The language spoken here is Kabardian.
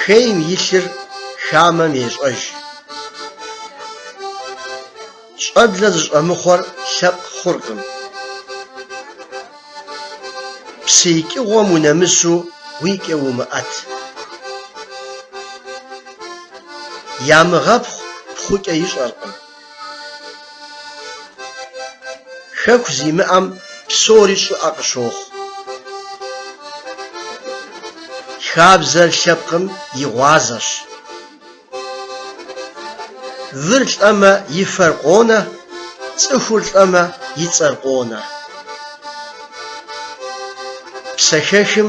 Хейм и лъыр хамэм ещӏэж. Щӏэблэ зыщӏэмыхъуэр лъэпкъ хъуркъым. Псы икӏыгъуэм унэмысу уикӏэ умыӏэт. Ямыгъэпхъу пхъукӏэ ищӏэркъым. Хэку зимыӏэм псори щӏыӏэ къыщохъу. Хабзэр лъэпкъым и гъуазэщ. Выр лӏэмэ и фэр къонэ, цӏыхур лӏэмэ и цӏэр къонэ. Псэхэхым